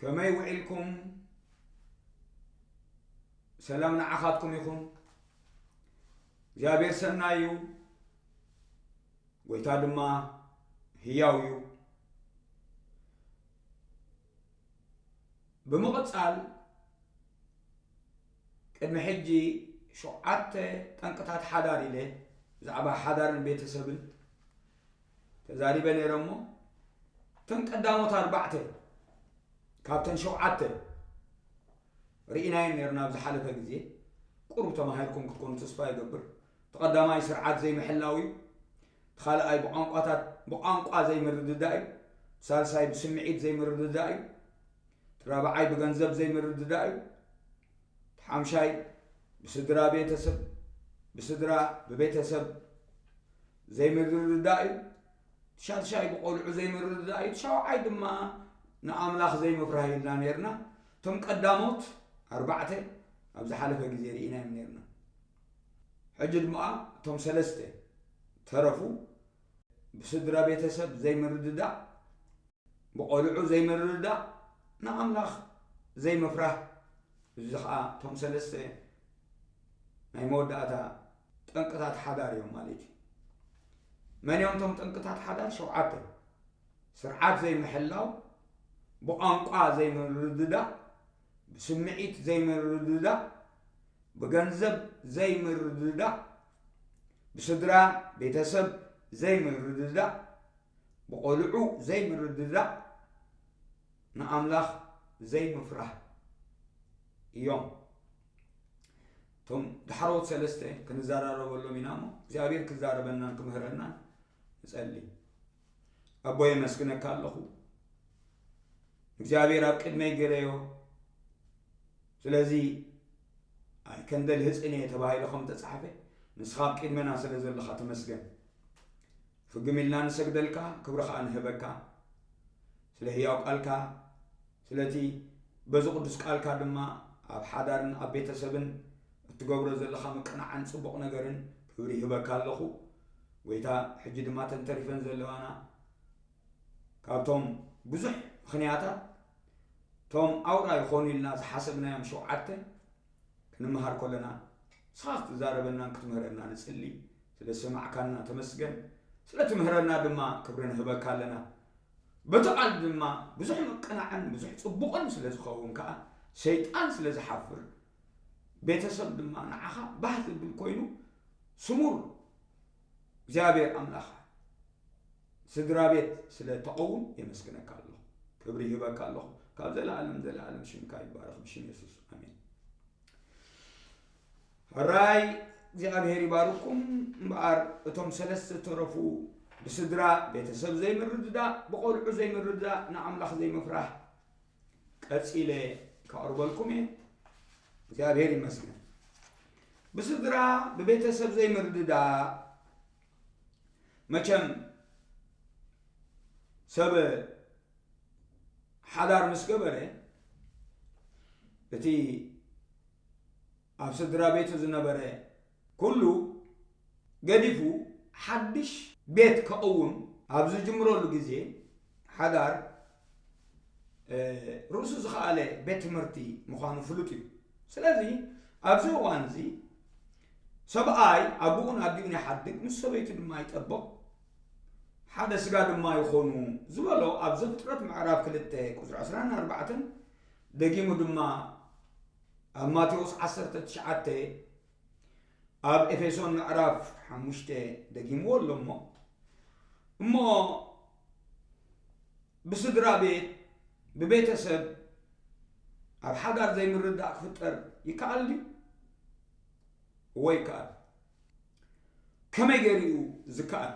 ከመይ ውዒልኩም ሰላም ንዓኻትኩም ይኹን እግዚኣብሔር ሰናይ እዩ ጎይታ ድማ ህያው እዩ ብምቕፃል ቅድሚ ሕጂ ሸውዓተ ጠንቅታት ሓዳር ኢለ ብዛዕባ ሓዳርን ቤተሰብን ተዛሪበ ነይረ እሞ እተን ቀዳሞት ኣርባዕተ ካብተን ሸውዓተ ርኢናየን ነርና ኣብ ዝሓለፈ ግዜ ቁሩብ ተማሂርኩም ክትኮኑ ተስፋ ይገብር ተቐዳማይ ስርዓት ዘይምሕላው እዩ ተኻልኣይ ብቋንቋታት ብቋንቋ ዘይምርድዳእ እዩ ሳልሳይ ብስምዒት ዘይምርድዳእ እዩ ራብዓይ ብገንዘብ ዘይምርድዳእ እዩ ሓምሻይ ብስድራ ቤተሰብ ብስድራ ብቤተሰብ ዘይምርድዳእ እዩ፣ እቲ ሻድሻይ ብቆልዑ ዘይምርድዳእ እዩ፣ እቲ ሻውዓይ ድማ ንኣምላኽ ዘይምፍራህ ኢልና ነርና። እቶም ቀዳሞት ኣርባዕተ ኣብ ዝሓለፈ ግዜ ርኢናዮም ነርና። ሕጂ ድማ እቶም ሰለስተ ተረፉ ብስድራ ቤተሰብ ዘይምርድዳእ፣ ብቆልዑ ዘይምርድዳእ፣ ንኣምላኽ ዘይምፍራህ እዚ ከዓ እቶም ሰለስተ ናይ መወዳእታ ጠንቅታት ሓዳር እዮም ማለት እዩ። መን እዮም እቶም ጠንቅታት ሓዳር? ሸውዓተ። ስርዓት ዘይምሕላው፣ ብቋንቋ ዘይምርድዳእ፣ ብስምዒት ዘይምርድዳእ፣ ብገንዘብ ዘይምርድዳእ፣ ብስድራ ቤተሰብ ዘይምርድዳእ፣ ብቆልዑ ዘይምርድዳእ፣ ንኣምላኽ ዘይምፍራህ እዮም። እቶም ዳሕረዎት ሰለስተ ክንዘራረበሎም ኢና እሞ እግዚኣብሔር ክዛረበናን ክምህረናን ንጸሊ። ኣቦ የመስግነካ ኣለኹ እግዚኣብሔር ኣብ ቅድመይ ገረዮ ስለዚ ኣይከንደል ህፅን እየ ተባሂሉ ከም ተፃሕፈ ንስኻ ኣብ ቅድመና ስለ ዘለኻ ተመስገን ፍግም ኢልና ንሰግደልካ ክብሪ ከኣ ንህበካ ስለ ህያው ቃልካ ስለቲ በዚ ቅዱስ ቃልካ ድማ ኣብ ሓዳርን ኣብ ቤተሰብን እትገብሮ ዘለኻ ምቅናዕን ጽቡቕ ነገርን ክብሪ ይህበካ ኣለኹ ጎይታ ሕጂ ድማ እተን ተሪፈን ዘለዋና ካብቶም ብዙሕ ምኽንያታት እቶም ኣውራ ይኾኑ ኢልና ዝሓሰብናዮም ሸውዓተ ክንመሃር ከለና ንስኻ ክትዛረበናን ክትምህረና ንጽሊ ስለ ዝሰማዕካና ተመስገን ስለ ትምህረና ድማ ክብሪ ንህበካ ኣለና በቲ ቃል ድማ ብዙሕ ምቅናዕን ብዙሕ ጽቡቕን ስለ ዝኸውን ከኣ ሰይጣን ስለ ዝሓፍር ቤተሰብ ድማ ንዓኻ ባህ ዝብል ኮይኑ ስሙር እግዚኣብሔር ኣምላኽ ስድራቤት ስለ ተቀውም የመስግነካ ኣለኹ ክብሪ ይህበካ ኣለኹ ካብ ዘላኣለም ዘላኣለም ሽምካ ይባረኽ ብሽም የሱስ ኣሜን ሕራይ እግዚኣብሔር ይባርኩም እምበኣር እቶም ሰለስተ ተረፉ ብስድራ ቤተሰብ ዘይምርድዳእ ብቆልዑ ዘይምርድዳእ ንኣምላኽ ዘይምፍራሕ ቀፂለ ከቕርበልኩም እየ እግዚኣብሔር ይመስገን ብስድራ ብቤተሰብ ዘይምርድዳእ መቸም ሰብ ሓዳር ምስ ገበረ እቲ ኣብ ስድራ ቤቱ ዝነበረ ኩሉ ገዲፉ ሓድሽ ቤት ከቕውም ኣብ ዝጅምረሉ ግዜ ሓዳር ርእሱ ዝኸኣለ ቤት ትምህርቲ ምዃኑ ፍሉጥ እዩ ስለዚ ኣብዚ እዋን እዚ ሰብኣይ ኣቦኡን ኣዲኡን ይሓድግ ምስ ሰበይቱ ድማ ይጠብቕ ሓደ ስጋ ድማ ይኾኑ ዝበሎ ኣብ ዘፍጥረት ምዕራፍ ክልተ ቁፅሪ 24 ደጊሙ ድማ ኣብ ማቴዎስ 19 ኣብ ኤፌሶን ምዕራፍ ሓሙሽተ ደጊምዎ ኣሎ እሞ እሞ ብስድራ ቤት ብቤተሰብ ኣብ ሓዳር ዘይምርዳእ ክፍጠር ይከኣል ድዩ እወ ይከኣል ከመይ ገይሩ እዩ ዝከኣል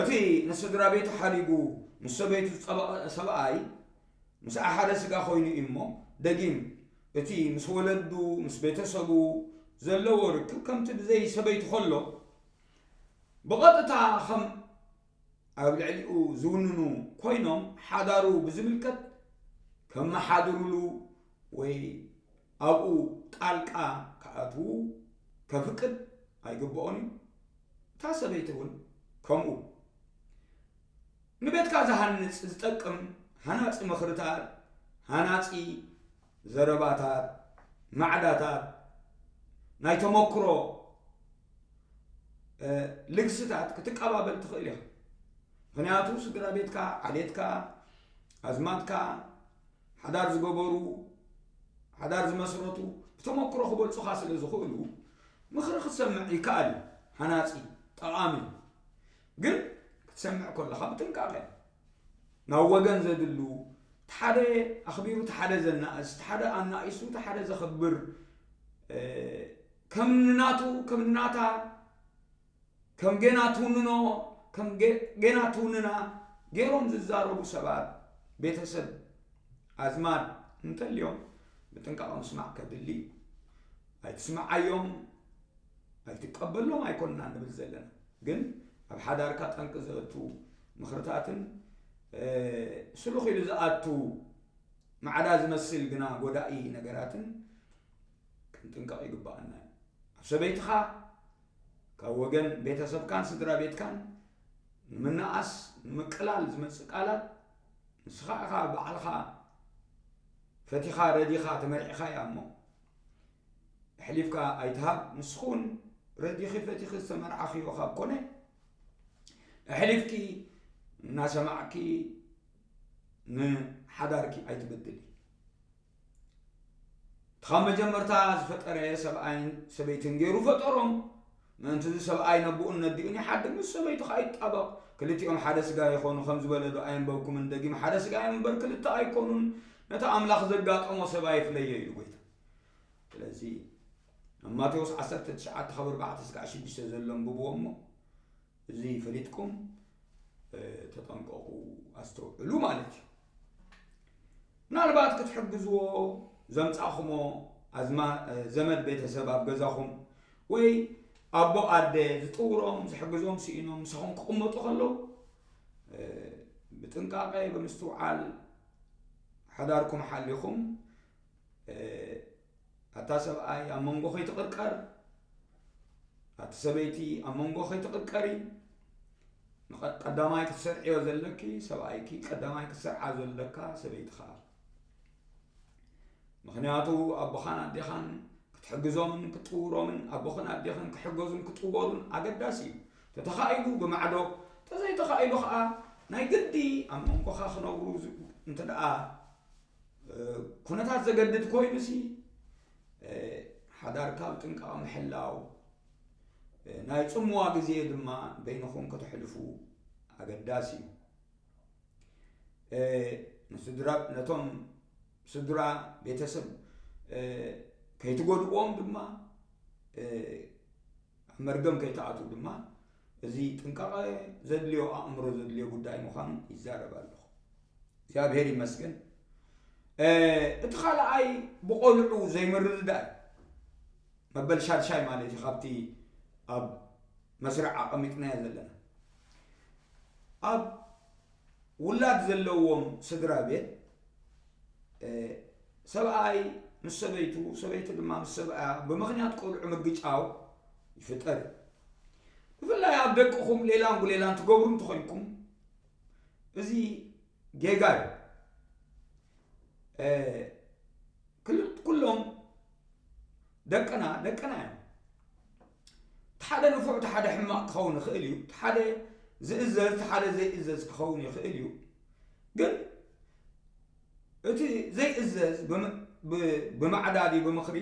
እቲ ንስድራቤቱ ሓዲጉ ምስ ሰበይቱ ዝጸበቐ ሰብኣይ፣ ምስኣ ሓደ ስጋ ኰይኑ እዩ እሞ፣ ደጊም እቲ ምስ ወለዱ፣ ምስ ቤተሰቡ፣ ዘለዎ ርክብ ከምቲ ብዘይ ሰበይቱ ከሎ ብቐጥታ ከም ኣብ ልዕሊኡ ዝውንኑ ኰይኖም ሓዳሩ ብዝምልከት ከመሓድሩሉ ወይ ኣብኡ ጣልቃ ክኣትዉ ከፍቅድ ኣይግብኦን እዩ። እታ ሰበይቲ እውን ከምኡ። ንቤትካ ዝሃንጽ ዝጠቅም ሃናጺ ምኽርታት፣ ሃናጺ ዘረባታት፣ ማዕዳታት፣ ናይ ተመክሮ ልግስታት ክትቀባበል ትኽእል ኢኻ። ምክንያቱ ስድራ ቤትካ ዓሌትካ ኣዝማድካ ሓዳር ዝገበሩ፣ ሓዳር ዝመስረቱ ብተመክሮ ክበልጹኻ ስለ ዝኽእሉ ምኽሪ ክትሰምዕ ይከኣል እዩ። ሃናጺ፣ ጠቓሚ እዩ። ግን ክትሰምዕ ከለኻ ብጥንቃቐ ናብ ወገን ዘድሉ እቲ ሓደ ኣኽቢሩ እቲ ሓደ ዘናእስ እቲ ሓደ ኣናኢሱ እቲ ሓደ ዘኽብር ከም ንናቱ ከም ንናታ ከም ጌና ትውንኖ ከም ጌና ትውንና ገይሮም ዝዛረቡ ሰባት ቤተሰብ ኣዝማድ እንተልዮም ብጥንቃቐ ምስማዕ ከድሊ እዩ ኣይትስምዓዮም ኣይትቀበሎም ኣይኮንና ንብል ዘለና ግን ኣብ ሓዳርካ ጠንቂ ዘእቱ ምኽርታትን ስሉኽ ኢሉ ዝኣቱ ማዕዳ ዝመስል ግና ጎዳኢ ነገራትን ክንጥንቀቕ ይግባኣና እዩ ኣብ ሰበይትኻ ካብ ወገን ቤተሰብካን ስድራ ቤትካን ንምናኣስ ንምቅላል ዝመጽእ ቃላት ንስኻ ኢኻ ባዕልኻ ፈቲኻ ረዲኻ ተመሪዕኻያ እሞ ኣሕሊፍካ ኣይትሃብ ንስኹን ረዲኺ ፈቲኺ ዝተመርዓኽዮ ካብ ኮነ ኣሕሊፍኪ እናሰማዕኪ ንሓዳርኪ ኣይትበድሊ እቲ ኻብ መጀመርታ ዝፈጠረ ሰብኣይን ሰበይትን ገይሩ ፈጠሮም። ምእንቲ እዚ ሰብኣይ ነቦኡን ነዲኡን ይሓድግ፣ ምስ ሰበይቱ ኸኣ ይጣበቕ፣ ክልቲኦም ሓደ ስጋ ይዀኑ ኸም ዝበለዶ ኣየንበብኩምን? ደጊም ሓደ ስጋ እዮም እምበር፣ ክልተ ኣይኰኑን። ነቲ ኣምላኽ ዘጋጠሞ ሰብ ኣይፍለዮ ኢሉ ጐይታ። ስለዚ ኣብ ማቴዎስ ዓሰርተ ትሽዓተ ካብ ኣርባዕተ ስጋዕ ሽዱሽተ ዘሎ ኣንብብዎ እሞ እዚ ፈሊጥኩም ተጠንቀቑ፣ ኣስተውዕሉ ማለት እዩ። ምናልባት ክትሕግዝዎ ዘምጻኹሞ ኣዝማ ዘመድ ቤተሰብ ኣብ ገዛኹም ወይ ኣቦ ኣደ ዝጥውሮም ዝሕግዞም ስኢኖም ምሳኹም ክቕመጡ ከለዉ ብጥንቃቐ ብምስትውዓል ሓዳርኩም ሓሊኹም ኣታ ሰብኣይ ኣብ መንጎ ከይትቕርቀር ኣቲ ሰበይቲ ኣብ መንጎ ከይትቕርቀሪ ቀዳማይ ክትሰርዕዮ ዘለኪ ሰብኣይኪ ቀዳማይ ክትሰርዓ ዘለካ ሰበይትኻ ምክንያቱ ኣቦኻን ኣዴኻን ክትሕግዞምን ክጥውሮምን ኣቦኽን ኣዴኽን ክሕገዙን ክጥወሩን ኣገዳሲ እዩ ተተኻኢሉ ብማዕዶ ተዘይተኻኢሉ ከዓ ናይ ግዲ ኣብ መንጎኻ ክነብሩ እንተ ደኣ ኩነታት ዘገድድ ኮይኑ ሲ ሓዳርካ ኣብ ጥንቃቐ ምሕላው ናይ ጽምዋ ግዜ ድማ በይንኹም ከተሕልፉ ኣገዳሲ እዩ ንስድራ ነቶም ስድራ ቤተሰብ ከይትጎድዎም ድማ ኣብ መርገም ከይትኣትዉ ድማ እዚ ጥንቃቐ ዘድልዮ ኣእምሮ ዘድልዮ ጉዳይ ምዃኑ ይዛረብ ኣለኹ። እግዚኣብሔር ይመስገን። እቲ ካልኣይ ብቆልዑ ዘይምርድዳእ መበል ሻድሻይ ማለት እዩ ካብቲ ኣብ መስርዕ ኣቐሚጥናዮ ዘለና ኣብ ውላድ ዘለዎም ስድራ ቤት ሰብኣይ ምስ ሰበይቱ፣ ሰበይቲ ድማ ምስ ሰብኣያ ብምኽንያት ቆልዑ ምግጫው ይፍጠር እዩ። ብፍላይ ኣብ ደቅኹም ሌላን ጉሌላን ትገብሩ እንተኾይንኩም እዚ ጌጋ እዩ ኩሎም ደቅና ደቅና እዮም እቲ ሓደ ንፉዕ እቲ ሓደ ሕማቕ ክኸውን ይኽእል እዩ። እቲ ሓደ ዝእዘዝ እቲ ሓደ ዘይእዘዝ ክኸውን ይኽእል እዩ። ግን እቲ ዘይእዘዝ ብማዕዳዲ ብምኽሪ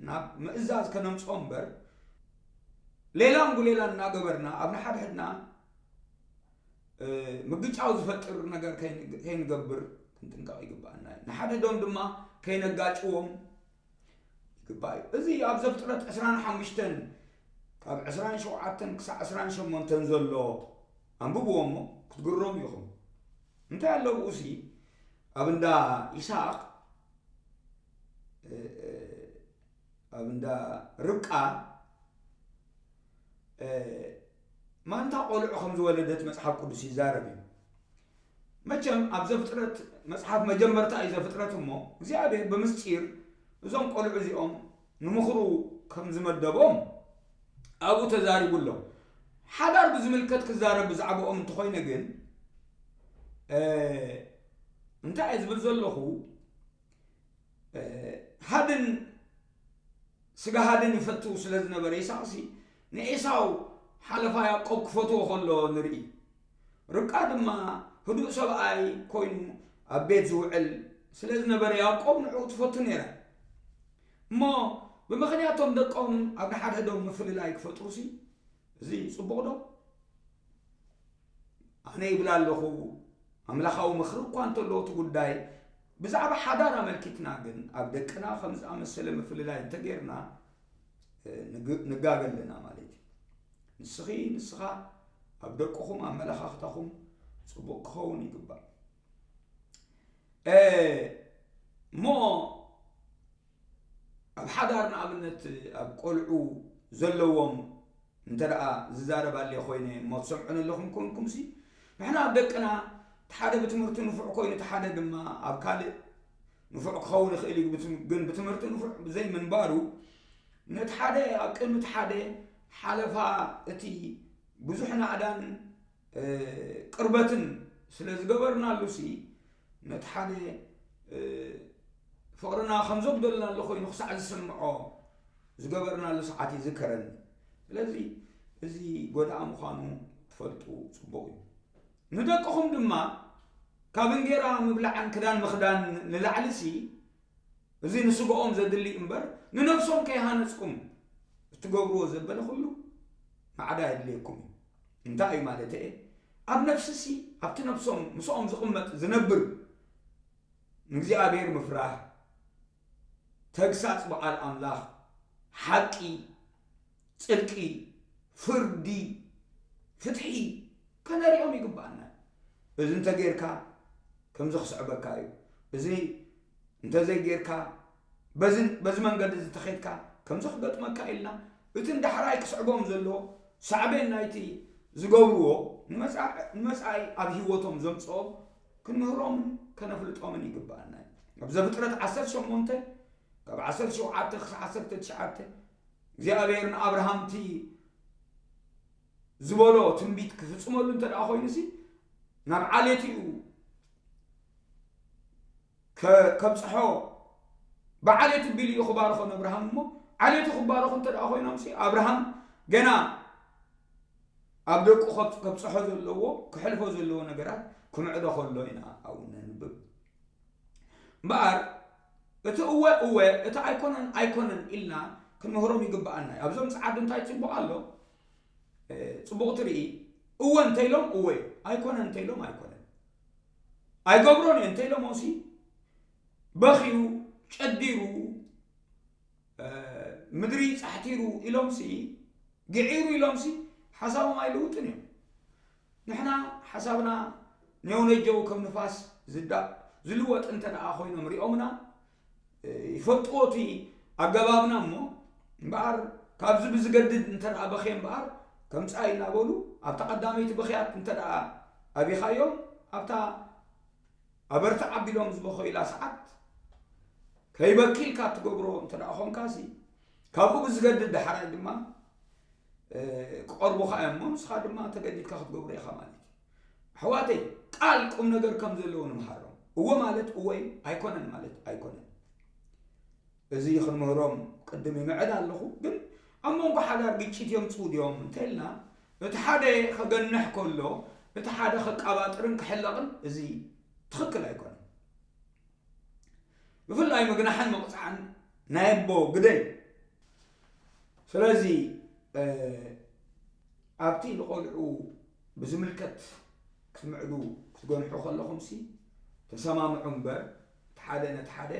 ናብ ምእዛዝ ከነምፅኦ እምበር ሌላን ጉሌላን እናገበርና ኣብ ንሓድሕድና ምግጫው ዝፈጥር ነገር ከይንገብር ክንጥንቀቕ ይግባኣና እዩ ንሓድሕዶም ድማ ከይነጋጭዎም ይግባእ እዩ። እዚ ኣብ ዘፍጥረት ዕስራን ሓሙሽተን ካብ ዕስራን ሸውዓተን ክሳዕ ዕስራን ሸሞንተን ዘሎ ኣንብብዎ እሞ ክትግረሙ ኢኹም። እንታይ ኣሎ ብኡ ሲ ኣብ እንዳ ይስሐቅ ኣብ እንዳ ርብቃ ማንታ ቆልዑ ከም ዝወለደት መጽሓፍ ቅዱስ ይዛረብ እዩ። መቸም ኣብ ዘፍጥረት መጽሓፍ መጀመርታ እዩ ዘፍጥረት እሞ እግዚኣብሔር ብምስጢር እዞም ቆልዑ እዚኦም ንምኽሩ ከም ዝመደቦም ኣብኡ ተዛሪቡ ኣሎ ሓዳር ብዝምልከት ክዛረብ ብዛዕባኦም እንተኾይነ ግን እንታይ እየ ዝብል ዘለኹ ሃድን ስጋ ሃድን ይፈቱ ስለ ዝነበረ ኢሳቅሲ ንኤሳው ሓለፋ ያዕቆብ ክፈትዎ ከሎ ንርኢ ርብቃ ድማ ህዱእ ሰብኣይ ኮይኑ ኣብ ቤት ዝውዕል ስለ ዝነበረ ያዕቆብ ንዕኡ ትፈቱ ነይራ እሞ ብምኽንያቶም ደቆም ኣብ ንሓድሕዶም ምፍልላይ ክፈጥሩ ሲ እዚ ፅቡቕ ዶ ኣነ ይብላ ኣለኹ ኣምላኻዊ ምኽሪ እኳ እንተሎ እቲ ጉዳይ ብዛዕባ ሓዳር ኣመልኪትና ግን ኣብ ደቅና ከም ዝኣመሰለ ምፍልላይ እንተጌርና ንጋገ ኣለና ማለት እዩ ንስኺ ንስኻ ኣብ ደቅኹም ኣመለኻኽታኹም ፅቡቅ ክኸውን ይግባእ እሞ ኣብ ሓዳር ንኣብነት ኣብ ቆልዑ ዘለዎም እንተ ዝዛረብ ኣልየ ኮይነ እሞ ትሰምዑኒ ኣለኹም ኮንኩምሲ ንሕና ኣብ ደቅና እቲ ሓደ ብትምህርቱ ንፉዕ ኮይኑ እቲ ሓደ ድማ ኣብ ካልእ ንፉዕ ክኸውን ይኽእል እዩ ግን ብትምህርቲ ንፉዕ ብዘይ ምንባሩ ነቲ ሓደ ኣብ ቅድሚ እቲ ሓደ ሓለፋ እቲ ብዙሕ ናእዳን ቅርበትን ስለ ዝገበርናሉሲ ነቲ ሓደ ፍቕርና ከም ዘጉደልናሉ ኮይኑ ክሳዕ ዝስምዖ ዝገበርናሉ ሰዓት ይዝከረኒ ስለዚ እዚ ጎዳእ ምዃኑ ትፈልጡ ፅቡቕ እዩ ንደቅኹም ድማ ካብ እንጌራ ምብላዕን ክዳን ምኽዳን ንላዕሊ ሲ እዚ ንስጋኦም ዘድሊ እምበር ንነብሶም ከይሃነፅኩም እትገብርዎ ዘበለ ኩሉ ማዕዳ የድልየኩም እንታይ እዩ ማለተየ ኣብ ነፍሲሲ ኣብቲ ነብሶም ምስኦም ዝቕመጥ ዝነብር ንእግዚኣብሔር ምፍራህ ተግሳጽ በዓል ኣምላኽ ሓቂ ጽድቂ ፍርዲ ፍትሒ ከነሪኦም ይግባኣና እዚ እንተጌርካ ከምዚ ክስዕበካ እዩ እዚ እንተዘይጌርካ በዚ በዚ መንገዲ እዚ ተኸይድካ ከምዚ ክገጥመካ ኢልና እቲ ንዳሕራይ ክስዕቦም ዘለዎ ሳዕቤን ናይቲ ዝገብርዎ ንመጻኢ ኣብ ህይወቶም ዘምጽኦ ክንምህሮምን ከነፍልጦምን ይግባኣና እዩ ኣብ ዘፍጥረት ዓሰርተ ሸሞንተ ካብ ዓሰርተ ሸውዓተ ክሳብ ዓሰርተ ትሽዓተ እግዚኣብሔር ንኣብርሃም እቲ ዝበሎ ትንቢት ክፍጽመሉ እንተ ደኣ ኮይኑ ሲ ናብ ዓሌት እዩ ከ ከብጽሖ ብዓሌቱ ቢሉ እዩ ክባርኾም ኣብርሃም እሞ ዓሌቱ ክባረኹ እንተ ደኣ ኮይኖምሲ ኣብርሃም ገና ኣብ ደቁ ከብጽሖ ዘለዎ ክሕልፎ ዘለዎ ነገራት ክምዕዶ ከሎ ኢና ኣብኡ ነንብብ እምበኣር እቲ እወ እወ እቲ ኣይኮነን ኣይኮነን ኢልና ክንምህሮም ይግብኣና እዩ ኣብዞም ፀዓዱ እንታይ ፅቡቅ ኣሎ ፅቡቅ ትርኢ እወ እንተኢሎም እወ ኣይኮነን እንተኢሎም ኣይኮነን ኣይገብሮን እየ እንተኢሎሞሲ በኺዩ ጨዲሩ ምድሪ ፃሕቲሩ ኢሎምሲ ግዒሩ ኢሎምሲ ሓሳቦም ኣይልውጥን እዮም ንሕና ሓሳብና ኔውነጀው ከም ንፋስ ዝልወጥ እንተደኣ ኮይኖም ሪኦምና ይፈልጥዎ እቲ ኣገባብና እሞ እምበኣር ካብዚ ብዝገድድ እንተ በኽየ እምበኣር ከምፃእ እናበሉ ኣብታ ቀዳመይቲ ብኽያት እንተ ኣቢኻዮም ኣብታ ኣበርትዕ ኣቢሎም ዝበኸዩላ ሰዓት ከይበኪ ኢልካ እትገብሮ እንተ ኮንካሲ ካብኡ ብዝገድድ ዳሕራይ ድማ ክቐርቡኻ እዮም እሞ ንስኻ ድማ ተገዲድካ ክትገብሮ ኢኻ ማለት እዩ ኣሕዋተይ ቃል ቁም ነገር ከም ዘለዎ ንምሃሮም እዎ ማለት እዎ እዩ ኣይኮነን ማለት ኣይኮነን እዚ ክንምህሮም ቅድም ይምዕድ ኣለኹ ግን ኣብ መንጎ ሓዳር ግጭት የምፅኡ ድዮም እንተልና እቲ ሓደ ከገንሕ ከሎ እቲ ሓደ ከቃባጥርን ክሕለቕን እዚ ትኽክል ኣይኮነን ብፍላይ ምግናሕን መቕፃዕን ናይ ኣቦ ግደይ ስለዚ ኣብቲ ንቆልዑ ብዝምልከት ክትምዕዱ ክትገንሑ ከለኹምሲ ተሰማምዑ እምበር እቲ ሓደ ነቲ ሓደ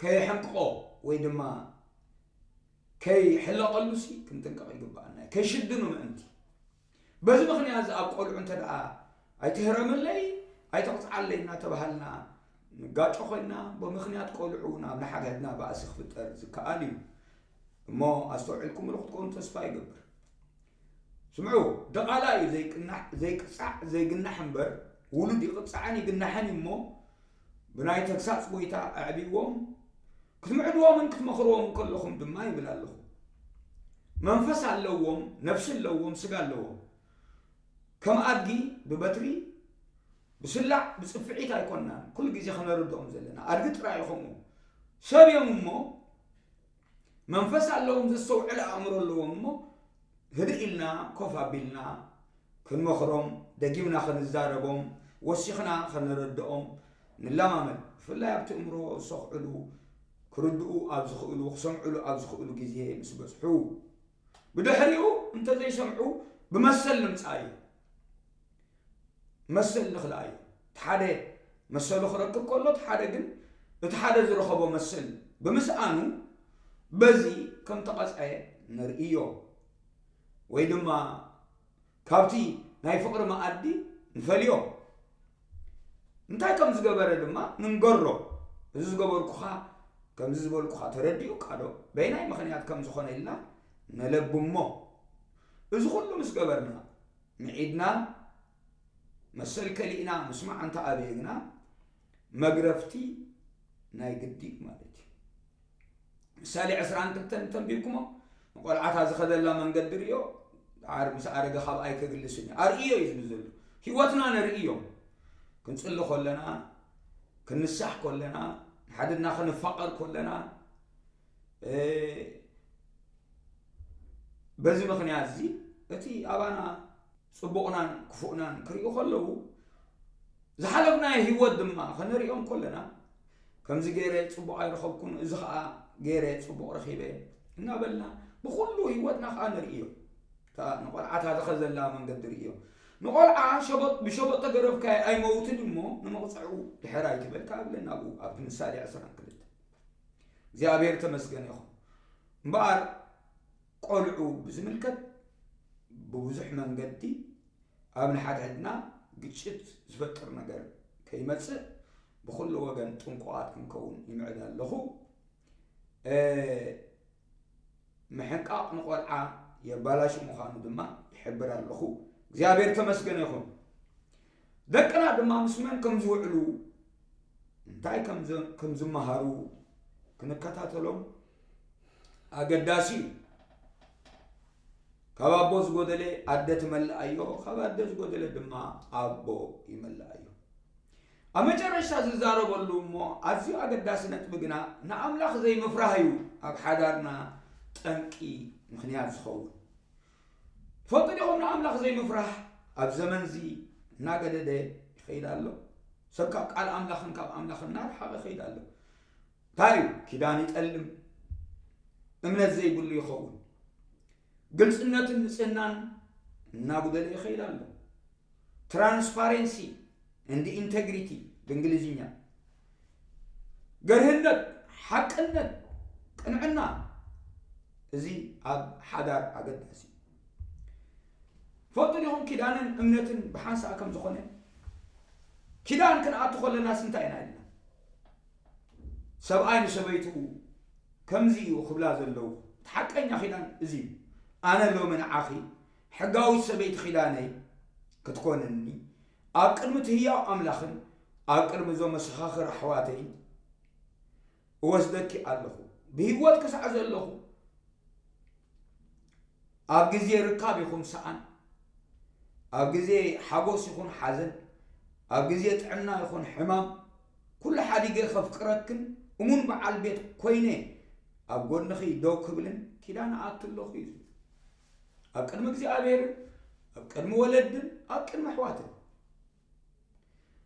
ከየሕንቅቆ ወይ ድማ ከይሕለቐሉሲ ክንጥንቀቕ ይግብኣና እዩ ከይሽድኑ ምእንቲ በዚ ምኽንያት'ዚ ኣብ ቆልዑ እንተድኣ ኣይትህረመለይ ኣይተቕጽዓለይ እናተባሃልና ንጋጮ ኮይና ብምኽንያት ቆልዑ እውን ኣብ ንሓድሕድና ባእሲ ክፍጠር ዝከኣል እዩ እሞ ኣስተውዒልኩምሉ ክትኮኑ ተስፋ ይገብር። ስምዑ ድቓላ እዩ ዘይቅናሕ ዘይቅጻዕ ዘይግናሕ እምበር ውሉድ ይቕጻዕን ይግናሕን እዩ እሞ ብናይ ተግሳጽ ጎይታ ኣዕብይዎም ክትምዕድዎምን ክትመኽርዎምን ከለኹም ድማ ይብል ኣለኹ፣ መንፈስ ኣለዎም፣ ነፍሲ ኣለዎም፣ ስጋ ኣለዎም፣ ከም ኣድጊ ብበትሪ ብስላዕ ብጽፍዒት ኣይኮናን ኩሉ ግዜ ከነርድኦም ዘለና፣ ኣድጊ ጥራይ ኸምኡ ሰብ እዮም እሞ መንፈስ ኣለዎም፣ ዘስተውዕል ኣእምሮ ኣለዎም እሞ ህድእ ኢልና ኮፍ ኣቢልና ክንመኽሮም፣ ደጊምና ክንዛረቦም፣ ወሲኽና ከነረድኦም ንለማመድ። ብፍላይ ኣብቲ እምሮ ዝሰኽዕሉ፣ ክርድኡ ኣብ ዝኽእሉ፣ ክሰምዕሉ ኣብ ዝኽእሉ ግዜ ምስ በጽሑ። ብድሕሪኡ እንተዘይሰምዑ ብመሰል ንምጻእ እዩ። መሰል ልኽላእ እዩ። እቲ ሓደ መሰሉ ክረክብ ከሎ እቲ ሓደ ግን እቲ ሓደ ዝረኸቦ መሰል ብምስኣኑ በዚ ከም ተቐጽዐ ንርእዮ። ወይ ድማ ካብቲ ናይ ፍቕሪ መኣዲ ንፈልዮ። እንታይ ከም ዝገበረ ድማ ንንገሮ። እዚ ዝገበርኩኻ ከምዚ ዝበልኩኻ ተረዲኡካዶ? በየናይ ምኽንያት ከም ዝኾነ ኢልና ንለብሞ። እዚ ኩሉ ምስ ገበርና ምዒድና መሰል ከሊእና ምስማዕ እንተ ኣበየ ግና መግረፍቲ ናይ ግዲድ ማለት እዩ። ምሳሌ ዕስራን ክልተን እንተንቢብኩሞ ንቆልዓታ ዝኸደላ መንገዲ ርዮ ድሓር ምስ ኣረገ ካብ ኣይከግልስን እዩ ኣርእዮ እዩ ዝብል ዘሎ ህይወትና ነርእዮም ክንጽሊ ኮለና ክንሳሕ ኮለና ንሓድና ክንፋቐር ኮለና በዚ ምኽንያት እዚ እቲ ኣባና ጽቡቕናን ክፉእናን ክሪኡ ከለዉ ዝሓለፍናዮ ህይወት ድማ ከነሪኦም ከለና ከምዚ ገይረ ጽቡቕ ኣይረኸብኩን እዚ ከዓ ገይረ ጽቡቕ ረኺበ እናበልና ብኩሉ ህይወትና ከዓ ንርእዮ ንቆልዓታ ዝኸዘላ መንገዲ ርእዮ ንቆልዓ ሸበጥ ብሸበጥ ተገረፍካ ኣይመውትን እሞ ንመቕፅዕኡ ድሕር ኣይትበል ካብለ ናብኡ ኣብቲ ምሳሌ ዕስራን ክልተ እግዚኣብሔር ተመስገን ይኹን እምበኣር ቆልዑ ብዝምልከት ብብዙሕ መንገዲ ኣብ ንሓድሕድና ግጭት ዝፈጥር ነገር ከይመፅእ ብኩሉ ወገን ጥንቁቓት ክንከውን ይምዕድ ኣለኹ ምሕቃቕ ንቆልዓ የባላሹ ምዃኑ ድማ ይሕብር ኣለኹ። እግዚኣብሔር ተመስገነ ይኹን። ደቅና ድማ ምስ መን ከም ዝውዕሉ እንታይ ከም ዝመሃሩ ክንከታተሎም ኣገዳሲ እዩ። ካብ ኣቦ ዝጎደለ ኣደ ትመልኣዮ ካብ ኣደ ዝጎደለ ድማ ኣቦ ይመልኣዮ ኣብ መጨረሽታ ዝዛረበሉ እሞ ኣዝዩ ኣገዳሲ ነጥቢ ግና ንኣምላኽ ዘይምፍራህ እዩ ኣብ ሓዳርና ጠንቂ ምኽንያት ዝኸውን። ትፈልጡ ዲኹም ንኣምላኽ ዘይምፍራህ ኣብ ዘመንዚ እናገደደ ይኸይድ ኣሎ። ሰብ ካብ ቃል ኣምላኽን ካብ ኣምላኽ እናረሓቐ ይኸይድ ኣሎ። እንታይ እዩ? ኪዳን ይጠልም፣ እምነት ዘይብሉ ይኸውን። ግልፅነትን ንፅህናን እናጉደለ ይኸይድ ኣሎ። ትራንስፓሬንሲ እንድ ኢንተግሪቲ ብእንግሊዝኛ፣ ገርህነት፣ ሓቅነት፣ ቅንዕና እዚ ኣብ ሓዳር ኣገዳሲ እዩ። ፈልጡ ዲኹም ኪዳንን እምነትን ብሓንሳእ ከም ዝኾነ ኪዳን ክንኣቱ ከለናስ እንታይ ኢና ኢልና ሰብኣይ ንሰበይትኡ ከምዚ እዩ ክብላ ዘለዉ እቲ ሓቀኛ ኪዳን እዚ እዩ ኣነ ሎሚ ንዓኺ ሕጋዊት ሰበይቲ ኪዳነይ ክትኮንኒ ኣብ ቅድሚ እቲ ህያው ኣምላኽን ኣብ ቅድሚ እዞም መሰኻኽር ኣሕዋተይን እወስደኪ ኣለኹ ብህይወት ክሳዕ ዘለኹ ኣብ ግዜ ርካብ ይኹን ሰኣን ኣብ ግዜ ሓጎስ ይኹን ሓዘን ኣብ ግዜ ጥዕና ይኹን ሕማም ኩሉ ሓዲገ ከፍቅረክን እሙን በዓል ቤት ኮይነ ኣብ ጎንኺ ደው ክብልን ኪዳን እኣቱ ኣለኹ ኢሉ። ኣብ ቅድሚ እግዚኣብሔርን ኣብ ቅድሚ ወለድን ኣብ ቅድሚ ኣሕዋትን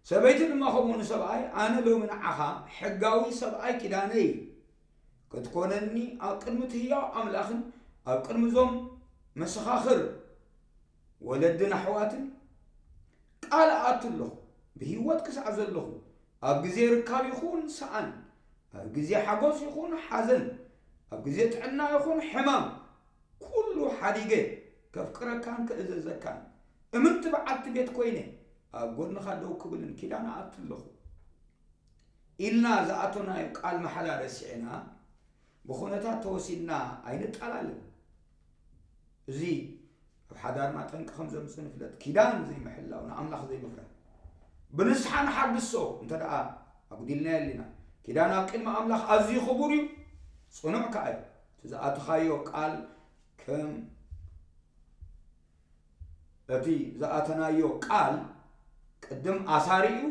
ሰበይቲ ድማ ከምኡ ንሰብኣይ ኣነ ሎሚ ንዓኻ ሕጋዊ ሰብኣይ ኪዳነይ ክትኮነኒ ኣብ ቅድሚ እቲ ህያው ኣምላኽን ኣብ ቅድሚ እዞም መሰኻኽር ወለድን ኣሕዋትን ቃል እኣቱ ኣለኹ፣ ብህይወት ክሳዕ ዘለኹ፣ ኣብ ግዜ ርካብ ይኹን ሰኣን፣ ኣብ ግዜ ሓጎስ ይኹን ሓዘን፣ ኣብ ግዜ ጥዕና ይኹን ሕማም፣ ኩሉ ሓዲገ ከፍቅረካን ክእዘዘካን፣ እምንቲ በዓልቲ ቤት ኮይነ ኣብ ጎድንኻ ደው ክብልን ኪዳን እኣቱ ኣለኹ። ኢልና ዝኣቶናዮ ቃል ማሕላ ረሲዕና ብኹነታት ተወሲድና ኣይንጣላለን። እዚ ኣብ ሓዳርና ጠንቂ ከም ዘምጽእ ንፍለጥ፣ ኪዳን ዘይምሕላው ንኣምላኽ ዘይምፍራህ። ብንስሓ ንሓድሶ እንተ ደኣ ኣጉዲልናዮ ኣሊና። ኪዳን ኣብ ቅድሚ ኣምላኽ ኣዝዩ ክቡር እዩ፣ ጽኑዕ ከኣ እዩ። እቲ ዝኣተኻዮ ቃል ከም እቲ ዝኣተናዮ ቃል ቅድም ኣሳሪ እዩ፣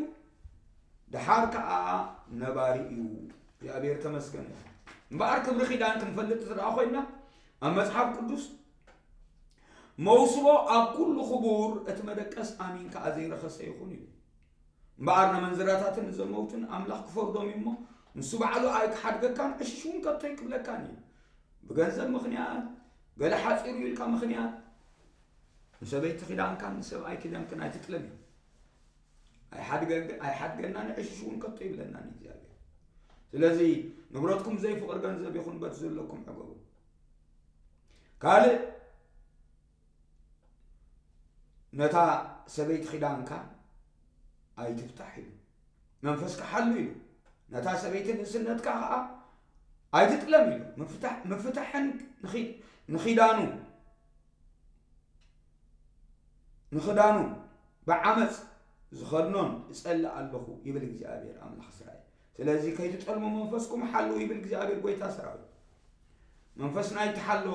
ደሓር ከኣ ነባሪ እዩ። እግዚኣብሔር ተመስገን እዩ። እምበኣር ክብሪ ኪዳን ክንፈልጥ እንተ ደኣ ኮይንና ኣብ መጽሓፍ ቅዱስ መውስቦ ኣብ ኩሉ ክቡር እቲ መደቀስ ኣሚን ከዓ ዘይረኸሰ ይኹን እዩ እምበኣር ነመንዝራታትን ንዘመውትን ኣምላኽ ክፈርዶም እዩ እሞ ንሱ ባዕሉ ኣይክሓድገካን ዕሽሽ እውን ከቶ ይቅብለካን እዩ ብገንዘብ ምክንያት ገለ ሓፂሩ ኢልካ ምክንያት ንሰበይቲ ኪዳንካን ንሰብኣይ ኪዳንክን ኣይትጥለም እዩ ኣይሓድገናን ዕሽሽ እውን ከቶ ይብለናን እግዚኣብሔር ስለዚ ንብረትኩም ዘይፍቅር ገንዘብ ይኹን በት ዘለኩም ዕገቡ ካልእ ነታ ሰበይቲ ኪዳንካ ኣይትፍታሕ ኢሉ መንፈስካ ሓሉ ኢሉ ነታ ሰበይቲ ንእስነትካ ከዓ ኣይትጥለም ኢሉ ምፍታሕን ንኪዳኑ ንኽዳኑ ብዓመፅ ዝኸድኖን እጸልእ ኣለኹ ይብል እግዚኣብሔር ኣምላኽ እስራኤል። ስለዚ ከይትጠልሙ መንፈስኩም ሓልው ይብል እግዚኣብሔር ጎይታ ሰራዊት። መንፈስና ይተሓሎ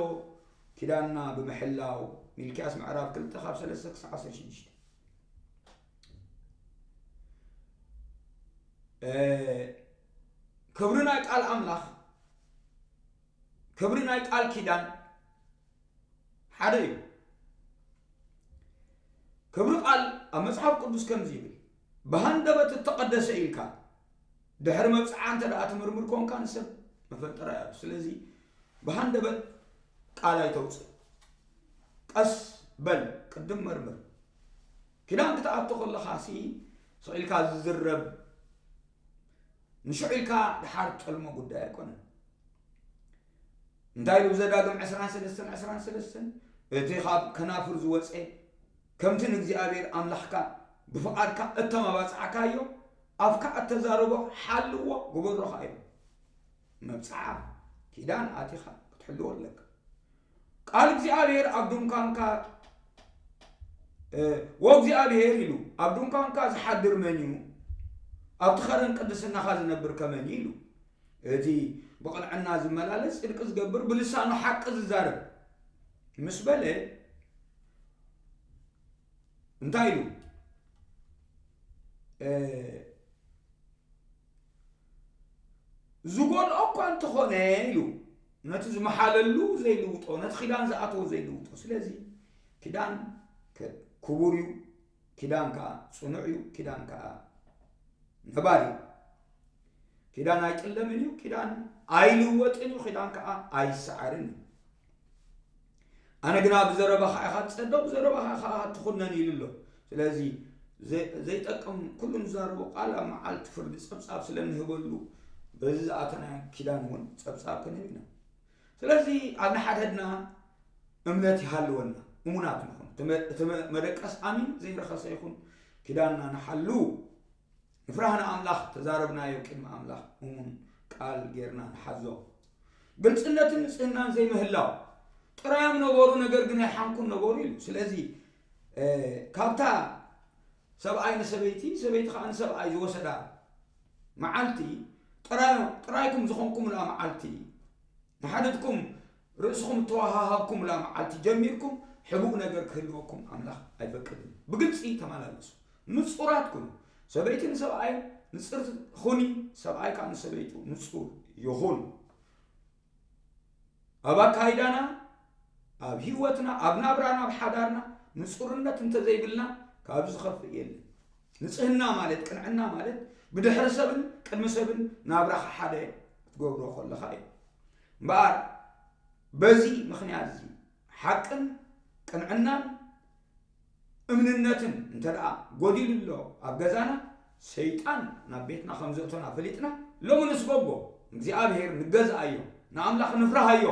ኪዳንና ብምሕላው ሚልኪያስ ምዕራፍ 2 ካብ 3 ክሳዕ 16 ክብሪ ናይ ቃል ኣምላኽ ክብሪ ናይ ቃል ኪዳን ሓደ እዩ። ክብሪ ቃል ኣብ መጽሓፍ ቅዱስ ከምዚ ይብል ብሃንደበት እተቐደሰ ኢልካ ድሕሪ መብጽዓ እንተ ደኣ ትምርምር ኮንካ ንሰብ መፈጠራ እዩ ስለዚ ብሃንደበት ቃል ኣይተውፅእ ቀስ በል ቅድም መርምር ኪዳን ክትኣቶ ከለኻ ሲ ስዒልካ ዝዝረብ ንሽዑ ኢልካ ድሓር ጠልሞ ጉዳይ ኣይኮነን እንታይ ኢሉ ብዘዳግም ዕስራን ሰለስተን ዕስራን ሰለስተን እቲ ኻብ ከናፍር ዝወጸ ከምቲ ንእግዚኣብሔር ኣምላኽካ ብፍቓድካ እተማባጻዕካዮ ኣፍካ እተዛረቦ ሓልዎ ግበሮ ኸኣ ኢሉ መብጽዓ ኪዳን ኣቲኻ ክትሕልዎ ኣለካ ቃል እግዚኣብሔር ኣብ ድንኳንካ ወእግዚኣብሔር ኢሉ ኣብ ድንኳንካ ዝሓድር መን እዩ ኣብቲ ኸረን ቅድስናኻ ዝነብር ከመን ኢሉ እቲ ብቕንዕና ዝመላለስ ጽድቂ ዝገብር ብልሳኑ ሓቂ ዝዛረብ ምስ በለ እንታይ ኢሉ ዝጎልኦ እኳ እንተኾነ ኢሉ ነቲ ዝመሓለሉ ዘይልውጦ ነቲ ኪዳን ዝኣተዎ ዘይልውጦ ስለዚ ኪዳን ክቡር እዩ ኪዳን ከኣ ጽኑዕ እዩ፣ ኪዳን ከኣ ነባሪ እዩ። ኪዳን ኣይጥለምን እዩ፣ ኪዳን ኣይልወጥን እዩ፣ ኪዳን ከኣ ኣይሰዓርን እዩ። ኣነ ግና ብዘረባኻ ኢኻ ትጸደቕ ብዘረባኻ ኢኻ ትኹነን ኢሉ ኣሎ ስለዚ ዘይጠቅም ኩሉ ንዛረቦ ቃል ኣብ መዓልቲ ፍርዲ ጸብጻብ ስለ እንህበሉ በዚ ዝኣተና ኪዳን እውን ጸብጻብ ክንህብ ኢና ስለዚ ኣብ ንሓድሕድና እምነት ይሃልወና፣ እሙናት ንኹን፣ እቲ መደቀስ ኣሚን ዘይረኸሰ ይኹን፣ ኪዳንና ንሓሉ፣ ንፍራህ ንኣምላኽ፣ ተዛረብናዮ ቅድሚ ኣምላኽ እሙን ቃል ጌርና ንሓዞ። ግልጽነትን ንጽህናን ዘይምህላው ጥራዮም ነበሩ፣ ነገር ግን ኣይሓንኩን ነበሩ ኢሉ። ስለዚ ካብታ ሰብኣይ ንሰበይቲ ሰበይቲ ከዓ ንሰብኣይ ዝወሰዳ መዓልቲ ጥራይኩም ዝኾንኩምላ መዓልቲ ንሓድትኩም ርእስኹም እተወሃሃብኩምላ መዓልቲ ጀሚርኩም ሕቡእ ነገር ክህልወኩም ኣምላኽ ኣይፈቅድን ብግልፂ ተመላለሱ ንፁራት ኩኑ ሰበይቲ ንሰብኣይ ንፅር ኹኒ ሰብኣይ ከዓ ንሰበይቱ ንፁር ይኹን ኣብ ኣካይዳና ኣብ ህይወትና ኣብ ናብራና ኣብ ሓዳርና ንጹርነት እንተዘይብልና ካብ ዝኸፍእ የለን ንጽህና ማለት ቅንዕና ማለት ብድሕሪ ሰብን ቅድሚ ሰብን ናብራኻ ሓደ ክትገብሮ ከለኻ እዩ እምበኣር በዚ ምክንያት እዚ ሓቅን ቅንዕናን እምንነትን እንተ ደኣ ጎዲሉ ኣሎ ኣብ ገዛና፣ ሰይጣን ናብ ቤትና ከም ዘእቶና ፈሊጥና፣ ሎሚ ንስጎጎ፣ ንእግዚኣብሄር ንገዝኣዮ፣ ንኣምላኽ ንፍርሃዮ፣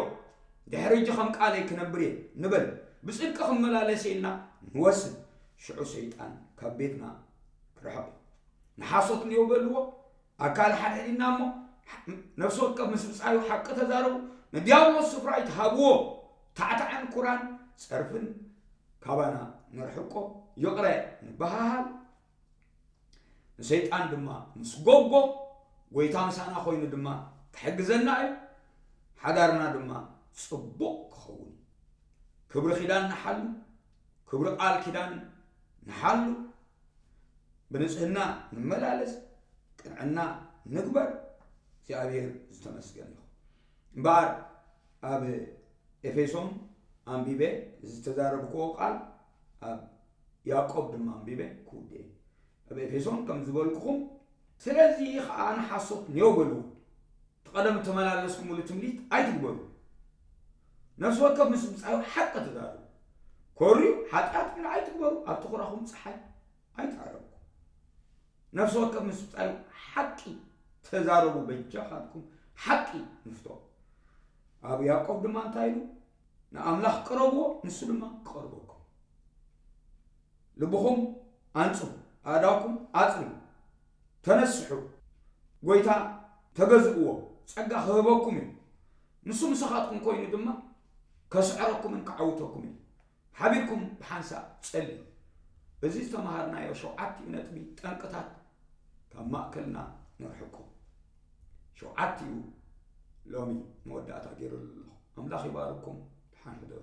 ድሕሪ ሕጂ ከም ቃለይ ክነብር እየ ንበል፣ ብጽድቂ ክመላለስ እየ ኢልና ንወስን፣ ሽዑ ሰይጣን ካብ ቤትና ክርሕቕ እዩ። ንሓሶት ንየው በልዎ፣ ኣካል ሓደ ዲና እሞ ነፍሲ ወከፍ ምስ ብጻዩ ሓቂ ተዛረቡ፣ ንድያብሎስ ስፍራ ኣይትሃብዎ፣ ታዕታዕን ኩራን ጸርፍን ካባና ነርሕቆ፣ ይቕረ ንበሃሃል፣ ንሰይጣን ድማ ንስጎጎ፣ ጐይታ ምሳና ኮይኑ ድማ ክሕግዘና እዩ፣ ሓዳርና ድማ ጽቡቕ ክኸውን እዩ። ክብሪ ኪዳን ንሓሉ፣ ክብሪ ቃል ኪዳን ንሓሉ። ብንጽህና ንመላለስ፣ ቅንዕና ንግበር፣ እግዚኣብሔር ዝተመስገን ይኹን። እምበኣር ኣብ ኤፌሶን ኣንቢበ ዝተዛረብክዎ ቃል ኣብ ያዕቆብ ድማ ኣንቢበ ክውድእ እየ። ኣብ ኤፌሶን ከም ዝበልኩኹም ስለዚ ኸዓ ንሓሶት ኔው በልዎ፣ እቲ ቀደም እተመላለስኩምሉ ትምኒት ኣይትግበሩ። ነፍሲ ወከፍ ምስ ብጻዩ ሓቂ ተዛረቡ። ኮርዩ ሓጢኣት ግን ኣይትግበሩ፣ ኣብቲ ኹራኹም ጸሓይ ኣይትዓረብኩ። ነፍሲ ወከፍ ምስ ብጻዩ ሓቂ ተዛረቡ፣ በጃኻትኩም ሓቂ ንፍቶ። ኣብ ያዕቆብ ድማ እንታይ ኢሉ? ንኣምላኽ ቅረብዎ፣ ንሱ ድማ ክቐርበኩም። ልብኹም ኣንጽሁ፣ ኣእዳውኩም ኣጽርዩ። ተነስሑ፣ ጐይታ ተገዝእዎ፣ ጸጋ ኽህበኩም እዩ፣ ንሱ ምሳኻትኩም ኰይኑ ድማ ከስዕረኩምን ከዓውተኩምን እዩ። ሓቢርኩም ብሓንሳእ ጸልዩ። እዚ ዝተመሃርናዮ ሸውዓቲኡ ነጥቢ ጠንቅታት ካብ ማእከልና ነርሕቆ። ሸውዓቲኡ ሎሚ መወዳእታ ገይረሉ ኣለኹ። ኣምላኽ ይባርኩም። ደሓን ሕደሩ።